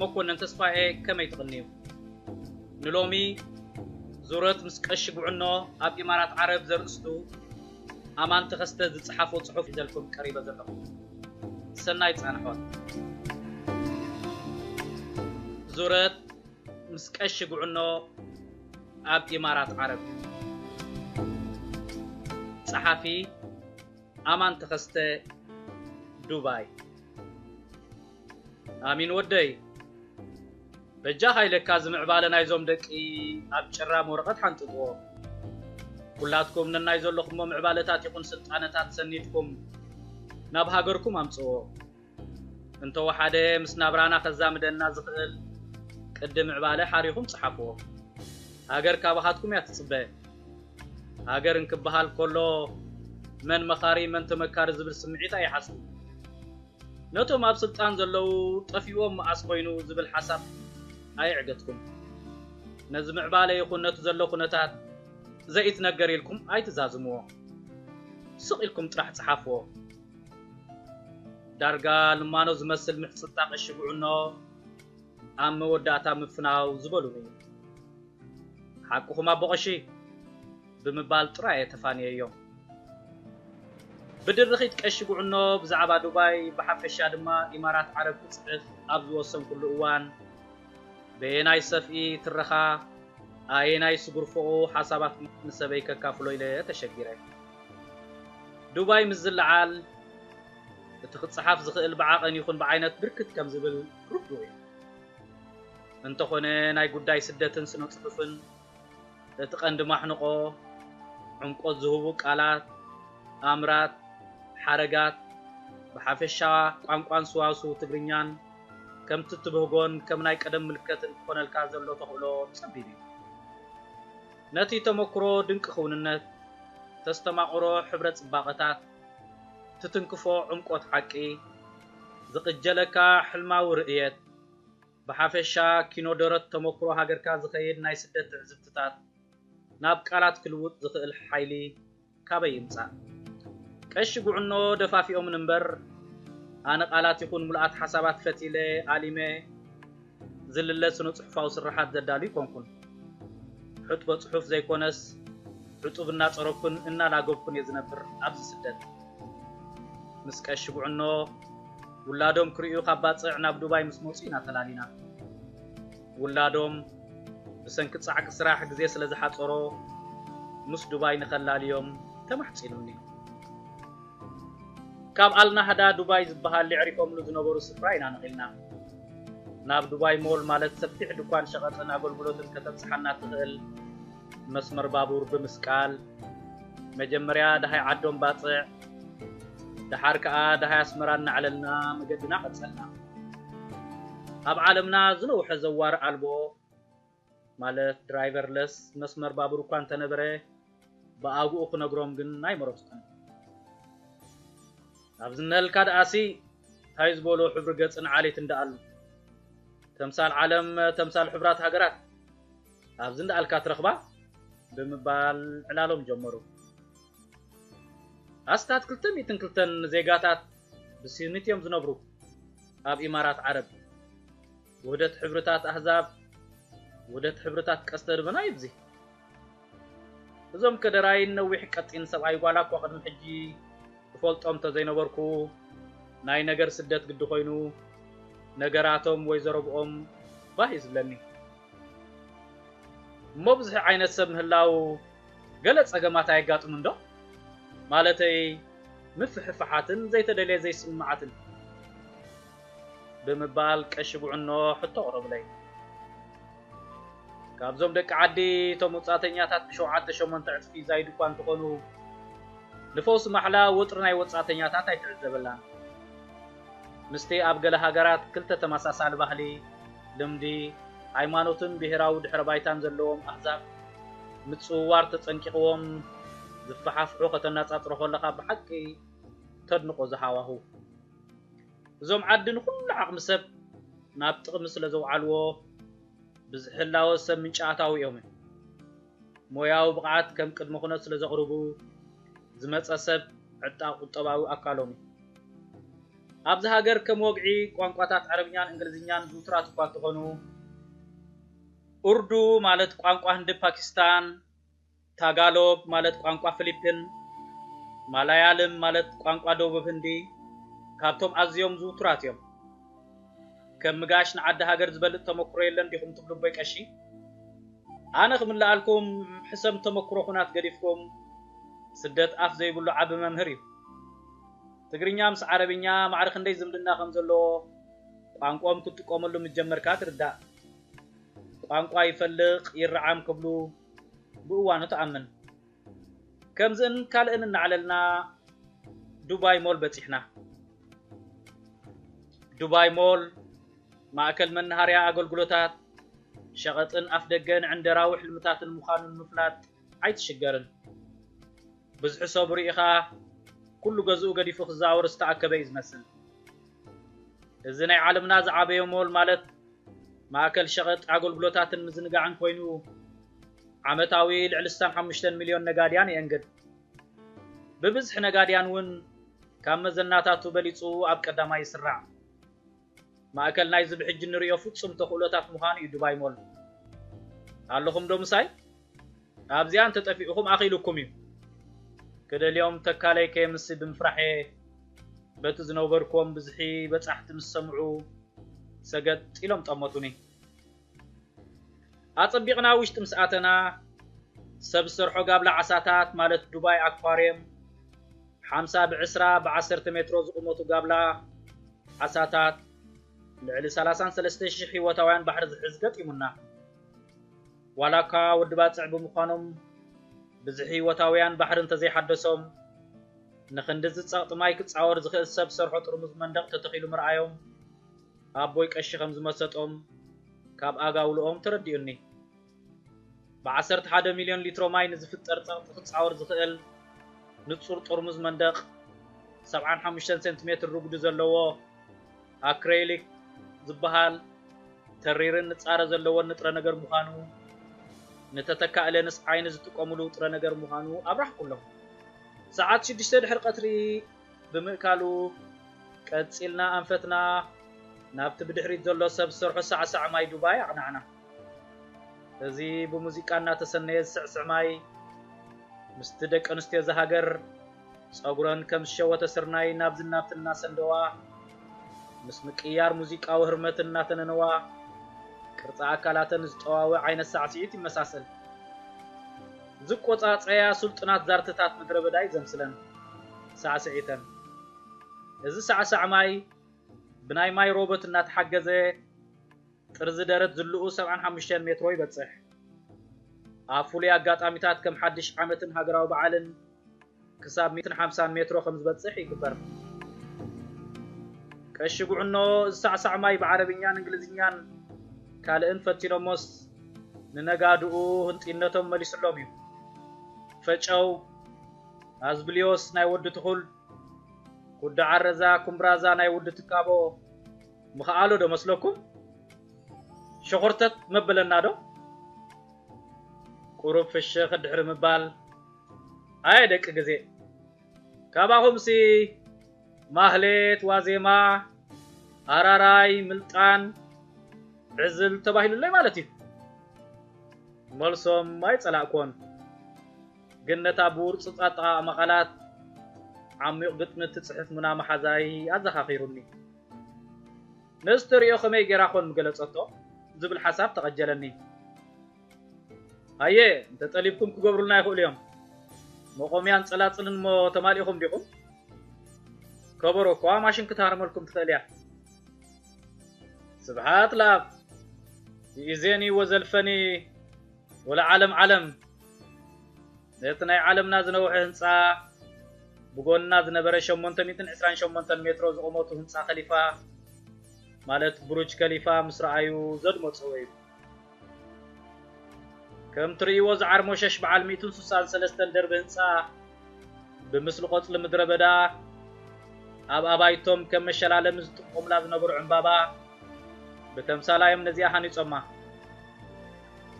መኮነን ተስፋኤ ከመይ ትቕንዩ? ንሎሚ ዙረት ምስ ቀሺ ጉዕኖ ኣብ ኢማራት ዓረብ ዘርእስቱ ኣማን ተኸስተ ዝጸሓፎ ጽሑፍ ሒዘልኩም ቀሪበ ዘለኹ። ሰናይ ጻንሖት። ዙረት ምስ ቀሺ ጉዕኖ ኣብ ኢማራት ዓረብ። ጸሓፊ፣ ኣማን ተኸስተ፣ ዱባይ። ኣሚን ወደይ በጃኻ ኢለካ እዚ ምዕባለ ናይዞም ደቂ ኣብ ጭራም ወረቐት ሓንጥጥዎ ኩላትኩም ነናይ ዘለኹሞ ምዕባለታት ይኹን ስልጣነታት ሰኒድኩም ናብ ሃገርኩም ኣምጽዎ እንተወሓደ ምስ ናብራና ከዛምደና ዝኽእል ቅዲ ምዕባለ ሓሪኹም ጽሓፍዎ ሃገር ካባኻትኩም እያ ትጽበ ሃገር እንክበሃል ከሎ መን መኻሪ መን ተመካሪ ዝብል ስምዒት ኣይሓስቡ ነቶም ኣብ ስልጣን ዘለዉ ጠፊኡዎም መኣስ ኮይኑ ዝብል ሓሳብ ኣየዕገትኩም። ነዚ ምዕባለ ይኹን ነቲ ዘሎ ኩነታት ዘኢትነገር ኢልኩም ኣይትዛዝምዎ። ስቕ ኢልኩም ጥራሕ ጽሓፍዎ። ዳርጋ ልማኖ ዝመስል ምሕጽንታ ቀሺ ጉዕኖ ኣብ መወዳእታ ምፍናው ዝበሉን እዩ። ሓቅኹም ኣቦ ቀሺ! ብምባል ጥራይ እየ ተፋንየዮም። ብድርኺት ቀሺ ጉዕኖ ብዛዕባ ዱባይ ብሓፈሻ ድማ ኢማራት ዓረብ ክጽሕፍ ኣብ ዝወሰንኩሉ እዋን፣ በየናይ ሰፍኢ፣ ትረኻ፣ ኣየናይ ስጉርፎኡ ሓሳባት ንሰበይ ከካፍሎ ኢለ ተሸጊረ። ዱባይ ምስ ዝለዓል፣ እቲ ክጸሓፍ ዝኽእል ብዓቐን ይኹን ብዓይነት ብርክት ከም ዝብል ርዱእ እዩ። እንተኾነ ናይ ጉዳይ ስደትን ስነ-ጽሑፍን እቲ ቀንዲ ማሕንቖ ዕምቆት ዝህቡ ቃላት፣ ኣምራት፣ ሓረጋት፣ ብሓፈሻ ቋንቋን ስዋስው ትግርኛን ከምቲ እትብህጎን ከም ናይ ቀደም ምልከትን ክኾነልካ ዘሎ ተኽእሎ ጸቢብ እዩ። ነቲ ተመኩሮ ድንቂ ክውንነት፣ ተስተማቕሮ ሕብረ ጽባቐታት፣ ትትንክፎ ዕምቆት ሓቂ፣ ዝቕጀለካ ሕልማዊ ርእየት፣ ብሓፈሻ ኪኖ ደረት ተመኩሮ ሃገርካ ዝኸይድ ናይ ስደት ትዕዝብትታት ናብ ቃላት ክልውጥ ዝኽእል ሓይሊ ካበይ ይምጻእ? ቀሺ ጉዕኖ ደፋፊኦምን እምበር ኣነ ቃላት ይኹን ምሉኣት ሓሳባት ፈቲለ ኣሊመ ዝልለ ስነ-ጽሑፋዊ ስርሓት ዘዳሉ ኣይኮንኩን። ሕጥቦ ጽሑፍ ዘይኮነስ ሕጡብ እናጸረኩን እናላገብኩን እየ ዝነብር ኣብዚ ስደት። ምስ ቀሺ ጉዕኖ ውላዶም ክርእዩ ካብ ባጽዕ ናብ ዱባይ ምስ መጹ ኢና ተላሊና። ውላዶም ብሰንኪ ጻዕቂ ስራሕ ግዜ ስለ ዝሓጸሮ ምስ ዱባይ ንኸላልዮም ተማሕጺኑኒ። ካብ ኣልናህዳ ዱባይ ዝበሃል የዕሪፎምሉ ዝነበሩ ስፍራ ኢና ነቒልና። ናብ ዱባይ ሞል ማለት ሰፊሕ ድኳን ሸቐጥን ኣገልግሎትን ከተብጽሓና እትኽእል መስመር ባቡር ብምስቃል፣ መጀመርያ ደሃይ ዓዶም ባጽዕ፣ ደሓር ከኣ ደሃይ ኣስመራ እናዕለልና መገድና ቀጸልና። ኣብ ዓለምና ዝነውሐ ዘዋሪ ኣልቦ ማለት ድራይቨርለስ መስመር ባቡር እኳ እንተነበረ ብኣግኡ ክነግሮም ግን ኣይመረጽኩን። ናብዚ እነሀልካ ደኣሲ እንታይ ዝበሎ ሕብሪ ገጽን ዓሌትን ደኣሉ? ተምሳል ዓለም ተምሳል ሕብራት ሃገራት ኣብዚ እንዳኣልካ ትረኽባ ብምባል ዕላሎም ጀመሩ። ኣስታት ክልተ ሚእትን ክልተን ዜጋታት ብስዩኒት እዮም ዝነብሩ። ኣብ ኢማራት ዓረብ ውህደት ሕብርታት ኣህዛብ ውህደት ሕብርታት ቀስተ ድበና እዩ ብዚ እዞም ከደራይን ነዊሕ ቀጢን ሰብኣይ ጓላ እኳ ቅድሚ ሕጂ እፈልጦም እንተዘይነበርኩ ናይ ነገር ስደት ግዲ ኮይኑ ነገራቶም ወይ ዘረብኦም ባህ እዩ ዝብለኒ እሞ ብዙሒ ዓይነት ሰብ ምህላው ገለ ጸገማት ኣየጋጥሙን ዶ? ማለተይ ምፍሕፋሓትን ዘይተደልየ ዘይስምምዓትን። ብምባል ቀሺ ጉዕኖ ሕቶ ኣቕረቡለይ። ካብዞም ደቂ ዓዲ እቶም ወጻእተኛታት ብሸውዓተ ሸሞንተ ዕጽፊ ዛይዱ'ኳ እንተኾኑ ንፈውሲ ማሕላ ወጥሪ ናይ ወጻእተኛታት ኣይትዕዘበላን። ምስቲ ኣብ ገለ ሃገራት ክልተ ተመሳሳሊ ባህሊ፣ ልምዲ፣ ሃይማኖትን ብሄራዊ ድሕረ ባይታን ዘለዎም ኣህዛብ ምጽውዋር ተጸንቂቕዎም ዝፈሓፍሑ ከተነጻጽሮ ከለኻ ብሓቂ ተድንቖ እዚ ሃዋሁ። እዞም ዓዲ ንኹሉ ዓቕሚ ሰብ ናብ ጥቕሚ ስለ ዘውዓልዎ ብዝሕላወ ሰብ ምንጪ ኣታዊኦምን። ሞያዊ ብቕዓት ከም ቅድመ ኩነት ስለ ዘቕርቡ፣ ዝመጸ ሰብ ዕጣቕ ቁጠባዊ ኣካሎም እዩ። ኣብዚ ሃገር ከም ወግዒ ቋንቋታት ዓረብኛን እንግሊዝኛን ዝውቱራት እኳ እንተኾኑ፣ ኡርዱ ማለት ቋንቋ ህንዲ ፓኪስታን፣ ታጋሎግ ማለት ቋንቋ ፍሊፒን፣ ማላያልም ማለት ቋንቋ ደቡብ ህንዲ ካብቶም ኣዝዮም ዝውቱራት እዮም። ከም ምጋሽ ንዓዲ ሃገር ዝበልጽ ተመኩሮ የለን ዲኹም ትብሉ ኣቦይ ቀሺ? ኣነ ክምልኣልኩም ሕሰም ተመኩሮ ኩናት ገዲፍኩም ስደት ኣፍ ዘይብሉ ዓቢ መምህር እዩ። ትግርኛ ምስ ዓረብኛ ማዕረ ክንደይ ዝምድና ከም ዘለዎ ቋንቆኦም ክትጥቀመሉ ምስ ጀመርካ ትርዳእ። ቋንቋ ይፈልቅ ይራዓም ክብሉ ብእዋኑ ትኣምን። ከምዝእን ካልእን እናዕለልና ዱባይ ሞል በፂሕና። ዱባይ ሞል ማእከል መናሃርያ ኣገልግሎታት ሸቐጥን ኣፍደገን ዕንደራዊ ሕልምታትን ምዃኑ ንምፍላጥ ኣይትሽገርን። ብዝሒ ሰቡ ርኢኻ ኩሉ ገዝኡ ገዲፉ ክዛወር ዝተኣከበ እዩ ዝመስል። እዚ ናይ ዓለምና ዝዓበየ ሞል ማለት ማእከል ሸቐጥ ኣገልግሎታትን ምዝንጋዕን ኮይኑ ዓመታዊ ልዕሊ ስሳን ሓሙሽተን ሚልዮን ነጋድያን የእንግድ። ብብዝሒ ነጋድያን እውን ካብ መዘናታቱ በሊጹ ኣብ ቀዳማይ ይስራዕ። ማእከል ናይዚ ብሕጂ እንርእዮ ፍጹም ተኽእሎታት ምዃኑ እዩ ዱባይ ሞል። ኣለኹምዶ ምሳይ? ኣብዚኣ እንተ ጠፊኡኹም ኣኺሉኩም እዩ። ክደልዮም ተካለይ ከየምሲ ብምፍራሕ እየ። በቲ ዝነበርኩዎም ብዝሒ በጻሕቲ ምስ ሰምዑ ሰገጥ ኢሎም ጠመቱኒ። ኣጸቢቕና ውሽጢ ምስ ኣተና፣ ሰብ ዝሰርሖ ጋብላ ዓሳታት ማለት ዱባይ ኣኳርየም፣ ሓምሳ ብዕስራ ብዓሰርተ ሜትሮ ዝቑመቱ ጋብላ ዓሳታት፣ ልዕሊ ሰላሳን ሰለስተ ሽሕ ህይወታውያን ባሕሪ ዝሕዝ ገጢሙና። ዋላኳ ወዲ ባጽዕ ብምዃኖም ብዝሒ ህይወታውያን ባሕሪ እንተዘይሓደሶም፣ ንኽንድዚ ጸቕጢ ማይ ክጻወር ዝኽእል ሰብ ዝሰርሖ ጥርሙዝ መንደቕ ተተኺሉ ምርኣዮም ኣቦይ ቀሺ ከም ዝመሰጦም ካብ ኣጋውልኦም ተረዲኡኒ። ብ ዓሰርተ ሓደ ሚልዮን ሊትሮ ማይ ንዝፍጠር ጸቕጢ ክጻወር ዝኽእል ንጹር ጥርሙዝ መንደቕ ሰብዓን ሓሙሽተን ሴንቲሜትር ርጉዲ ዘለዎ ኣክረይሊክ ዝበሃል ተሪርን ንጻረ ዘለዎን ንጥረ ነገር ምዃኑ ንተተካኢ ለንስ ዓይኒ ዝጥቀሙሉ ጥረ ነገር ምዃኑ ኣብራህኩሎም። ሰዓት ሽዱሽተ ድሕሪ ቀትሪ ብምእካሉ፣ ቀጺልና ኣንፈትና ናብቲ ብድሕሪት ዘሎ ሰብ ዝሰርሖ ሳዕሳዕ ማይ ዱባይ ኣቕናዕና። እዚ ብሙዚቃ እናተሰነየ ዝስዕስዕ ማይ፣ ምስቲ ደቂ ኣንስትዮ እዛ ሃገር ጸጉረን ከም ዝሸወተ ስርናይ ናብዝን ናብትን እናሰንደዋ፣ ምስ ምቅይያር ሙዚቃዊ ህርመት እናተነነዋ፣ ቅርጺ ኣካላተን ዝጠዋውዕ ዓይነት ሳዕስዒት ይመሳሰል። ዝቆጻጸያ ስልጡናት ዛርትታት ምድረበዳ እዩ ዘምስለን። ሳዕስዒተን። እዚ ሳዕሳዕ ማይ ብናይ ማይ ሮበት እናተሓገዘ ጥርዚ ደረት ዝልኡ ሰብዓን ሓሙሽተን ሜትሮ ይበጽሕ። ኣብ ፍሉይ ኣጋጣሚታት ከም ሓድሽ ዓመትን ሃገራዊ በዓልን ክሳብ ሚእትን ሓምሳን ሜትሮ ከም ዝበጽሕ ይግበር። ቀሺ ጉዕኖ እዚ ሳዕሳዕ ማይ ብዓረብኛን እንግሊዝኛን ካልእን ፈቲኖሞስ ንነጋድኡ ህንጥይነቶም መሊስሎም እዩ። ፈጨው! ኣዝብልዮስ ናይ ወዲ ትኹል፣ ኩዳ ዓረዛ፣ ኩምብራዛ ናይ ውዲ ትካቦ ምኸኣሎ ዶ መስለኩም? ሸኾርተት መበለና ዶ? ቁሩብ ፍሽኽ ድሕሪ ምባል፣ ኣየ ደቂ ግዜ፣ ካባኹምሲ ማህሌት፣ ዋዜማ፣ ኣራራይ፣ ምልጣን፣ ዕዝል ተባሂሉለይ ማለት እዩ። መልሶም ኣይጸላእኩዎን። ግን ነታ ብውርጹጽ ኣጠቓቕማ ቃላት ዓሚቝ ግጥሚ እትጽሕፍ ሙና መሓዛይ ኣዘኻኺሩኒ። ንእስተርዮ ከመይ ገይራ ዀን ምገለጸቶ? ዝብል ሓሳብ ተቐጀለኒ። ሃየ እንተ ጠሊብኩም ክገብሩልና ይኽእሉ እዮም። መቖምያን ጸላጽልን እሞ ተማሊእኹም ዲኹም? ከበሮ እኳ ማሽን ክትሃርመልኩም ትኽእል እያ። ስብሓት ለኣብ፣ ይእዜኒ ወዘልፈኒ ወለዓለም ዓለም ነቲ ናይ ዓለምና ዝነውሐ ህንፃ ብጎንና ዝነበረ 828 ሜትሮ ዝቑመቱ ህንፃ ከሊፋ ማለት ብሩጅ ከሊፋ ምስ ረኣዩ ዘድመፅዎ እዩ። ከም ትርእይዎ ዝዓርሞሸሽ በዓል ሚእትን ሱሳን ሰለስተን ደርቢ ህንፃ ብምስሊ ቆፅሊ ምድረ በዳ ኣብ ኣባይቶም ከም መሸላለሚ ዝጥቀሙላ ዝነበሩ ዕምባባ ብተምሳላዮም ነዚኣ ሃኒፆማ።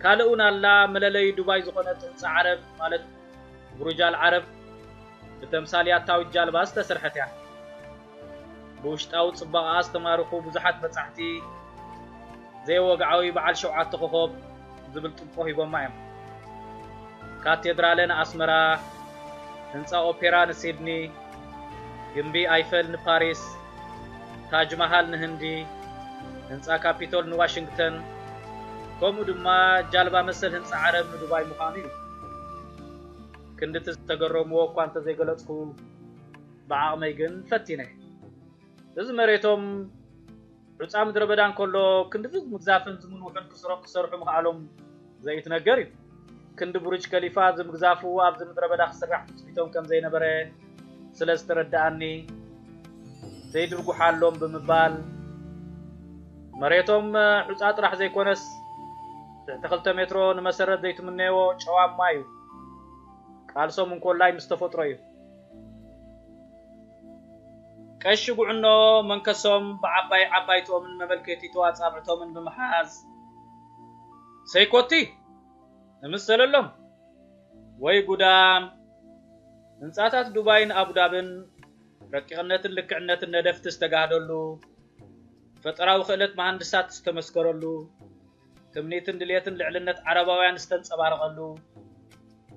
ካልእ እውን ኣላ መለለዩ ዱባይ ዝኾነት ህንጻ ዓረብ ማለት ቡሩጅ ኣል ዓረብ ብተምሳል ያታዊት ጃልባ ዝተሰርሐት እያ። ብውሽጣዊ ጽባቐኣ ዝተማርኹ ብዙሓት በጻሕቲ ዘይወግዓዊ በዓል ሸውዓተ ኮኾብ ዝብል ጥብቆ ሂቦማ እዮም። ካቴድራለ ንኣስመራ፣ ህንጻ ኦፔራ ንሲድኒ፣ ግምቢ ኣይፈል ንፓሪስ፣ ታጅ ማሃል ንህንዲ፣ ህንጻ ካፒቶል ንዋሽንግተን፣ ከምኡ ድማ ጃልባ መሰል ህንጻ ዓረብ ንዱባይ ምዃኑ እዩ። ክንድቲ ዝተገረምዎ እኳ እንተዘይገለጽኩ፣ ብዓቕመይ ግን ፈቲነ። እዚ መሬቶም ሑጻ ምድረበዳ እንከሎ ክንድዚ ዝምግዛፍን ዝምንውሑን ክስሮም ክሰርሑ ምኽኣሎም ዘይትነገር እዩ። ክንዲ ቡርጅ ከሊፋ ዝምግዛፉ ኣብዚ ምድረበዳ ክስራሕ ትጽቢቶም ከም ዘይነበረ ስለ ዝተረድኣኒ ዘይድርጉሓሎም ብምባል መሬቶም ሑጻ ጥራሕ ዘይኮነስ ትሕቲ ክልተ ሜትሮ ንመሰረት ዘይትምነይዎ ጨዋማ እዩ። ቃልሶም እንኮላይ ምስ ተፈጥሮ እዩ። ቀሺ ጉዕኖ መንከሶም ብዓባይ ዓባይቶምን መመልከቲቶ ኣጻብዕቶምን ብምሓዝ ሰይኮቲ እምሰለሎም ወይ ጉዳም ህንጻታት ዱባይን ኣቡዳብን ረቂቕነትን ልክዕነትን ነደፍቲ ዝተጋህደሉ፣ ፈጠራዊ ክእለት መሃንድሳት ዝተመስከረሉ፣ ትምኒትን ድሌትን ልዕልነት ዓረባውያን ዝተንጸባረቐሉ፣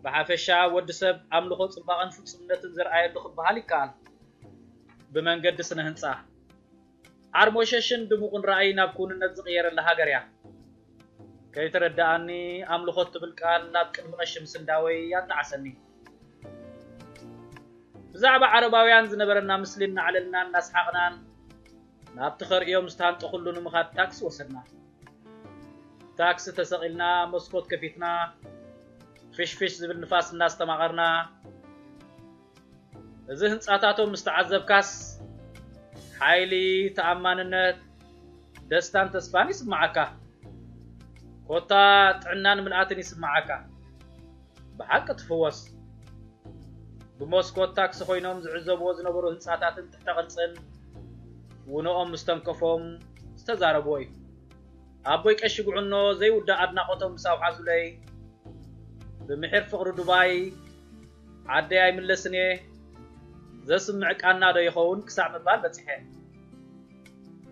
ብሓፈሻ ወዲ ሰብ ኣምልኾ ጽባቐን ፍጹምነትን ዘርኣየሉ ክበሃል ይከኣል። ብመንገዲ ስነ ህንጻ ዓርሞሸሽን ድሙቕን ራእይ ናብ ክውንነት ዝቕየረላ ሃገር እያ። ከይተረደኣኒ ኣምልኾ እትብል ቃል ናብ ቅድሚ ቀሺ ምስንዳወይ ኣጣዓሰኒ። ብዛዕባ ዓረባውያን ዝነበረና ምስሊ እናዕለልና እናስሓቕናን ናብቲ ከርእዮም ዝታንጠኹሉ ንምኻድ ታክሲ ወሰድና። ታክሲ ተሰቒልና መስኮት ከፊትና ፍሽፍሽ ዝብል ንፋስ እናስተማቐርና እዚ ህንፃታቶም ምስ ተዓዘብካስ ሓይሊ፣ ተኣማንነት፣ ደስታን ተስፋን ይስምዓካ። ኮታ ጥዕናን ምልኣትን ይስምዓካ። ብሓቂ ትፍወስ። ብመስኮት ታክሲ ኮይኖም ዝዕዘብዎ ዝነበሩ ህንፃታትን ተቕጽል ውኖኦም ምስ ተንከፎም ዝተዛረብዎ እዩ። ኣቦይ ቀሺ ጉዕኖ ዘይውዳእ ኣድናቖቶም ምስ ኣውሓዙለይ፣ ብምሒር ፍቕሪ ዱባይ ዓደይ ኣይምለስን'የ፣ ዘስምዕ ቃናዶ ይኸውን ክሳዕ ምባል በጺሐ።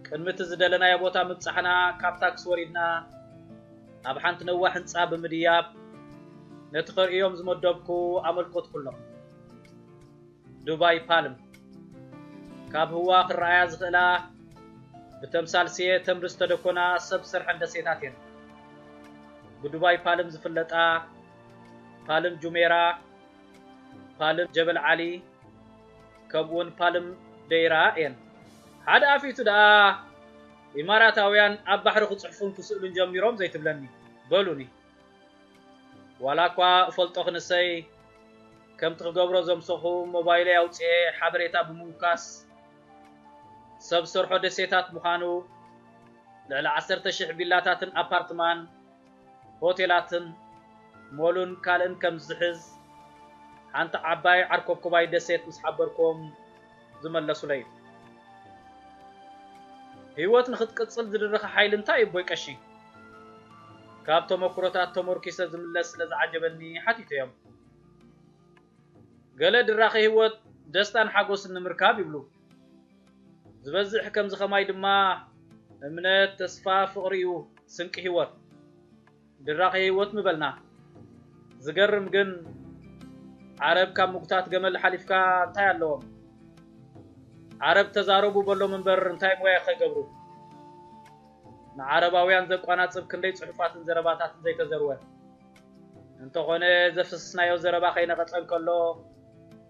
ቅድሚ'ቲ ዝደለናዮ ቦታ ምብጻሕና ካብ ታክሲ ወሪድና ናብ ሓንቲ ነዋሕ ህንጻ ብምድያብ ነቲ ከርእዮም ዝመደብኩ ኣመልከትኩሎም። ዱባይ ፓልም ካብ ህዋ ክረኣያ ዝኽእላ ብተምሳል ስየ ተምሪ ዝተደኮና ሰብ ሰርሐን ደሴታት እየን። ብዱባይ ፓልም ዝፍለጣ ፓልም ጁሜራ፣ ፓልም ጀበል ዓሊ ከምኡውን ፓልም ደይራ እየን። ሓደ ኣፊቱ ደኣ ኢማራታውያን ኣብ ባሕሪ ክጽሕፉን ክስእሉን ጀሚሮም ዘይትብለኒ በሉኒ። ዋላ እኳ እፈልጦ ክንሰይ ከምቲ ክገብሮ ዘምሰኹ ሞባይለይ ኣውጽኤ ሓበሬታ ብምውካስ ሰብ ሰርሖ ደሴታት ምዃኑ ልዕሊ ዓሰርተ ሽሕ ቪላታትን ኣፓርትማን ሆቴላትን ሞሉን ካልእን ከም ዝሕዝ ሓንቲ ዓባይ ዓርኮብኮባይ ደሴት ምስ ሓበርኩም ዝመለሱለይ። ህይወት ንኽትቅጽል ዝድርኽ ሓይሊ እንታይ እዩ ኣቦይ ቀሺ? ካብ ተመኩሮታት ተመርኲሰ ዝምለስ ስለ ዝዓጀበኒ ሓቲተዮም። ገለ ድራኺ ህይወት ደስታን ሓጎስን ንምርካብ ይብሉ። ዝበዝሕ ከምዚ ከማይ ድማ እምነት፣ ተስፋ፣ ፍቕሪ እዩ ስንቂ ህይወት። ድራኺ ህይወት ምበልና ዝገርም ግን ዓረብ ካብ ምጉታት ገመል ሓሊፍካ እንታይ ኣለዎም ዓረብ ተዛረቡ በሎም እምበር እንታይ ሞያ ከይገብሩ ንዓረባውያን ዘቋናጽብ ክንደይ ጽሑፋትን ዘረባታትን ዘይተዘርወ እንተኾነ ዘፍስስናዮ ዘረባ ከይነቐጸ እንከሎ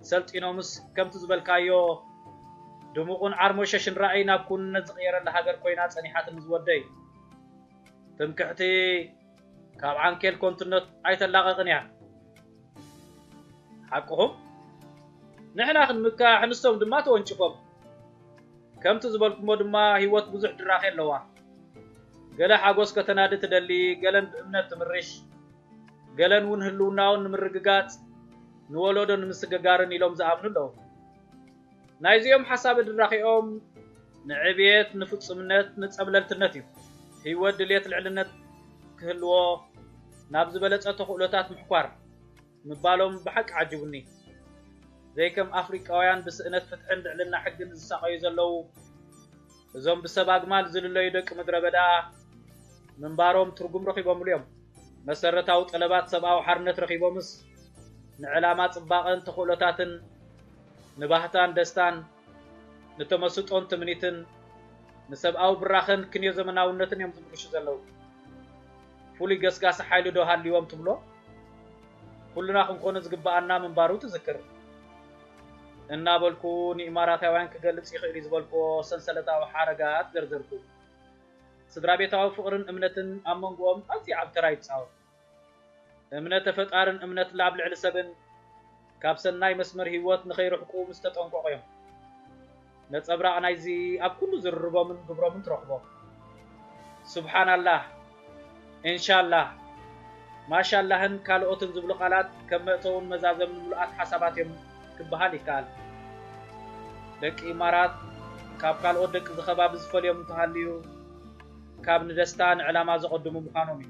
ሰልጢኖምስ ከምቲ ዝበልካዮ ድሙቕን ዓርሞሸሽን ራእይ ናብ ኩንነት ዝቕየረላ ሃገር ኮይና ጸኒሓትኒ ዝወደይ ትምክሕቲ ካብ ዓንኬል ኮንትነት ኣይተላቐቕን እያ። ሓቅኹም ንሕና ክንምካሕ ንሶም ድማ ተወንጭፎም ከምቲ ዝበልኩሞ ድማ ህይወት ብዙሕ ድራኼ ኣለዋ ገለ ሓጎስ ከተናዲ ትደሊ ገለን ብእምነት ትምርሽ ገለን እውን ህልውናውን ንምርግጋጽ ንወለዶ ንምስግጋርን ኢሎም ዝኣምኑ ኣለዉ ናይዚኦም ሓሳብ ድራኼኦም ንዕብየት፣ ንፍጹምነት፣ ንጸብለልትነት እዩ። ህይወት ድልየት ልዕልነት ክህልዎ ናብ ዝበለጸ ተኽእሎታት ምሕኳር ምባሎም ብሓቂ ዓጂቡኒ። ዘይከም ኣፍሪቃውያን ብስእነት ፍትሕን ልዕልና ሕግን ዝሳቐዩ ዘለዉ፣ እዞም ብሰብ ኣግማል ዝልለዩ ደቂ ምድረ በዳ ምንባሮም ትርጉም ረኺቦምሉ እዮም። መሰረታዊ ጠለባት ሰብኣዊ ሓርነት ረኺቦምስ ንዕላማ ጽባቐን ተኽእሎታትን፣ ንባህታን ደስታን፣ ንተመስጦን ትምኒትን፣ ንሰብኣዊ ብራኸን ክንዮ ዘመናውነትን እዮም ዝምርሹ ዘለዉ። ፍሉይ ገስጋሲ ሓይሊዶ ሃልዩዎም ትብሎ? ኩልና ክንኮኖ ዝግበኣና ምንባሩ ትዝክር። እናበልኩ ንኢማራታውያን ክገልጽ ይኽእል'ዩ ዝበልኩዎ ሰንሰለታዊ ሓረጋት ዘርዘርኩ። ስድራቤታዊ ፍቕርን እምነትን ኣብ መንጎኦም ኣዝዩ ዓቢ ተራ ይጻወት። እምነተ ፈጣርን እምነት ላብ ልዕሊ ሰብን ካብ ሰናይ መስመር ህይወት ንኸይርሕቁ ምስ ተጠንቀቑ'ዮም። ነጸብራቕ ናይዚ ኣብ ኩሉ ዝርርቦምን ግብሮምን ትረኽቦ። ሱብሓናላህ፣ እንሻላህ፣ ማሻላህን ካልኦትን ዝብሉ ቃላት ከም መእተውን መዛዘምን ምሉኣት ሓሳባት እዮም ክበሃል ይከኣል። ደቂ ኢማራት ካብ ካልኦት ደቂዚ ከባቢ ዝፈልዮም እንተሃልዩ ካብ ንደስታ ንዕላማ ዘቐድሙ ምዃኖም እዩ።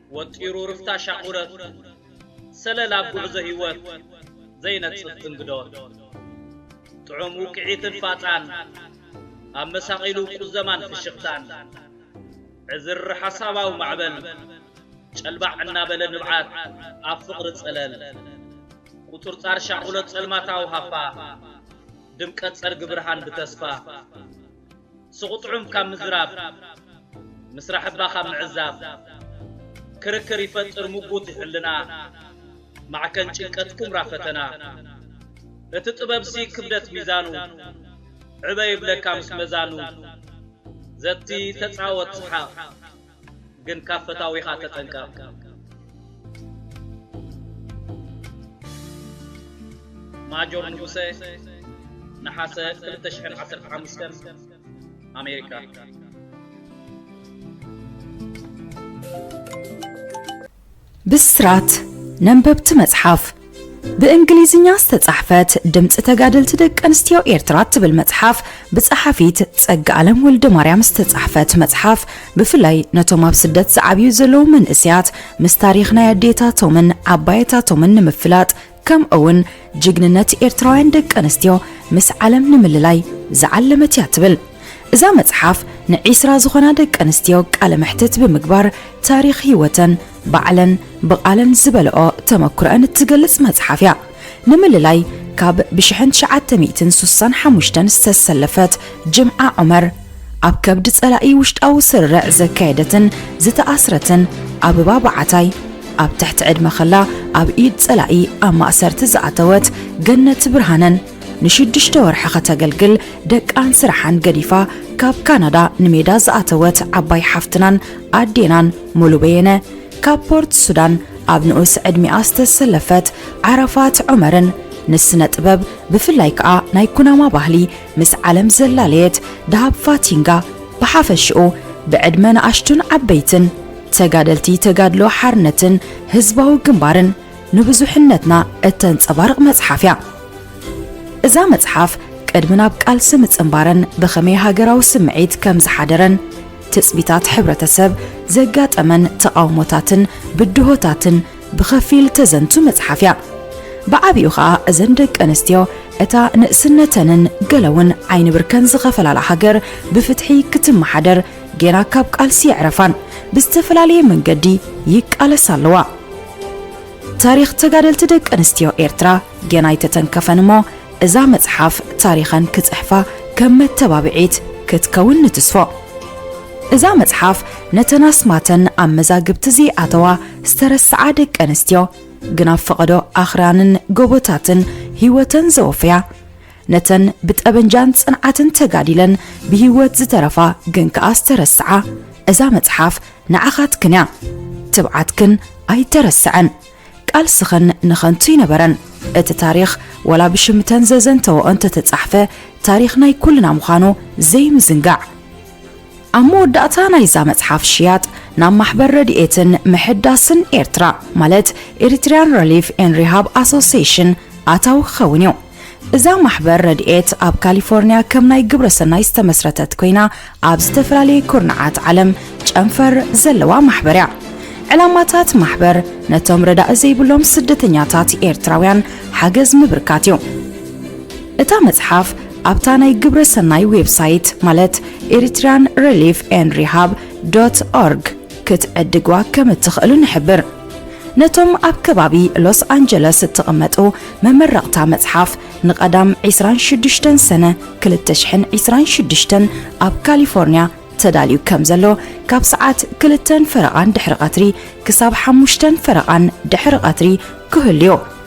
ወጢሩ ርፍታ ሻቑረት ሰለል ኣብ ጉዕዞ ሂወት ዘይነጽፍ ትንግዶት ጥዑም ውቅዒትን ፋጻን ኣብ መሳቒሉ ቁዘማን ፍሽኽታን ዕዝርር ሓሳባዊ ማዕበል ጨልባዕ እናበለ ንብዓት ኣብ ፍቕሪ ጸለል ቁጽርጻር ሻቑሎት ጸልማታዊ ሃፋ ድምቀት ጸርጊ ብርሃን ብተስፋ ሱቕ ጥዑም ካብ ምዝራብ፣ ምስራሕ እባ ካብ ምዕዛብ፣ ክርክር ይፈጥር ሙጉት ይሕልና፣ ማዕከን ጭንቀት ኩምራ ፈተና፣ እቲ ጥበብሲ ክብደት ሚዛኑ፣ ዕበ ይብለካ ምስ መዛኑ፣ ዘቲ ተጻወት ስሓቕ። ግን ካብ ፈታዊኻ ተጠንቀቕ። ማጆር ንጉሰ ነሓሰ ክልተ ሽሕን ዓሰርተ ሓሙሽተን ኣሜሪካ። ብስራት ነንበብቲ መጽሓፍ ብእንግሊዝኛ ዝተጻሕፈት ድምፂ ተጋደልቲ ደቂ ኣንስትዮ ኤርትራ እትብል መጽሓፍ ብጸሓፊት ጸጋኣለም ወልደ ማርያም ዝተጻሕፈት መጽሓፍ ብፍላይ ነቶም ኣብ ስደት ዝዓብዩ ዘለዉ መንእስያት ምስ ታሪኽ ናይ ኣዴታቶምን ዓባየታቶምን ንምፍላጥ ከምኡውን ጅግንነት ኤርትራውያን ደቂ ኣንስትዮ ምስ ዓለም ንምልላይ ዝዓለመት እያ ትብል እዛ መጽሓፍ ንዒስራ ዝኾና ደቂ ኣንስትዮ ቃለ መሕትት ብምግባር ታሪኽ ህይወተን ባዕለን ብቓለን ዝበለኦ ተመክሮአን እትገልጽ መጽሓፍ እያ ንምልላይ ካብ ብሽሕን ትሽዓተ ሚእትን ሱሳን ሓሙሽተን ዝተሰለፈት ጅምዓ ዑመር ኣብ ከብዲ ጸላኢ ውሽጣዊ ስርርዕ ዘካየደትን ዝተኣስረትን ኣበባ በዓታይ፣ ኣብ ትሕቲ ዕድመ ከላ ኣብ ኢድ ጸላኢ ኣብ ማእሰርቲ ዝኣተወት ገነት ብርሃነን፣ ንሽዱሽተ ወርሒ ከተገልግል ደቃን ስራሓን ገዲፋ ካብ ካናዳ ንሜዳ ዝኣተወት ዓባይ ሓፍትናን ኣዴናን ሙሉ በየነ፣ ካብ ፖርት ሱዳን ኣብ ንኡስ ዕድሚኣ ዝተሰለፈት ዓረፋት ዑመርን ንስነ ጥበብ ብፍላይ ከኣ ናይ ኩናማ ባህሊ ምስ ዓለም ዘላለየት ደሃብ ፋቲንጋ ብሓፈሽኡ ብዕድመ ንኣሽቱን ዓበይትን ተጋደልቲ ተጋድሎ ሓርነትን ህዝባዊ ግንባርን ንብዙሕነትና እተንጸባርቕ መጽሓፍ እያ። እዛ መጽሓፍ ቅድሚ ናብ ቃልሲ ምጽንባረን ብኸመይ ሃገራዊ ስምዒት ከም ዝሓደረን ትጽቢታት ሕብረተሰብ ዘጋጠመን ተቓውሞታትን ብድሆታትን ብኸፊል ተዘንቱ መጽሓፍ እያ። ብዓቢኡ ኸኣ እዘን ደቂ ኣንስትዮ እታ ንእስነተንን ገለውን ዓይኒ ብርከን ዝኸፈላላ ሃገር ብፍትሒ ክትመሓደር ጌና ካብ ቃልሲ የዕረፋን ብዝተፈላለየ መንገዲ ይቃለሳ ኣለዋ። ታሪኽ ተጋደልቲ ደቂ ኣንስትዮ ኤርትራ ጌና ኣይተተንከፈን እሞ እዛ መጽሓፍ ታሪኸን ክጽሕፋ ከም መተባብዒት ክትከውን ንትስፎ። እዛ መጽሓፍ ነተን ኣስማተን ኣብ መዛግብቲ ዘይኣተዋ ዝተረስዓ ደቂ ኣንስትዮ ግን ኣብ ፈቐዶ ኣኽራንን ጎቦታትን ህይወተን ዘወፈያ ነተን ብጠበንጃን ጽንዓትን ተጋዲለን ብህይወት ዝተረፋ ግን ከኣ ዝተረስዓ እዛ መጽሓፍ ንዓኻትክን እያ ትብዓትክን ኣይተረስዐን ቃልስኽን ንኸንቱ ይነበረን እቲ ታሪኽ ወላ ብሽምተን ዘዘንተወኦ እንተተጻሕፈ ታሪኽ ናይ ኩልና ምዃኑ ዘይምዝንጋዕ ኣብ መወዳእታ ናይዛ መጽሓፍ ሽያጥ ናብ ማሕበር ረድኤትን ምሕዳስን ኤርትራ ማለት ኤሪትሪያን ረሊፍ ኤን ሪሃብ ኣሶሴሽን ኣታዊ ክኸውን እዩ። እዛ ማሕበር ረድኤት ኣብ ካሊፎርኒያ ከም ናይ ግብረ ሰናይ ዝተመስረተት ኮይና ኣብ ዝተፈላለየ ኩርናዓት ዓለም ጨንፈር ዘለዋ ማሕበር እያ። ዕላማታት ማሕበር ነቶም ረዳኢ ዘይብሎም ስደተኛታት ኤርትራውያን ሓገዝ ምብርካት እዩ። እታ መጽሓፍ ኣብታ ናይ ግብረ ሰናይ ዌብሳይት ማለት ኤሪትርያን ረሊፍ ኤን ሪሃብ ዶት ኦርግ ክትዕድግዋ ከም እትኽእሉ ንሕብር። ነቶም ኣብ ከባቢ ሎስ ኣንጀለስ እትቕመጡ መመረቕታ መጽሓፍ ንቀዳም ዕስራን ሽዱሽተን ሰነ ክልተ ሽሕን ዕስራን ሽዱሽተን ኣብ ካሊፎርንያ ተዳልዩ ከም ዘሎ ካብ ሰዓት ክልተን ፈረቓን ድሕሪ ቀትሪ ክሳብ ሓሙሽተን ፈረቓን ድሕሪ ቀትሪ ክህሉዮ።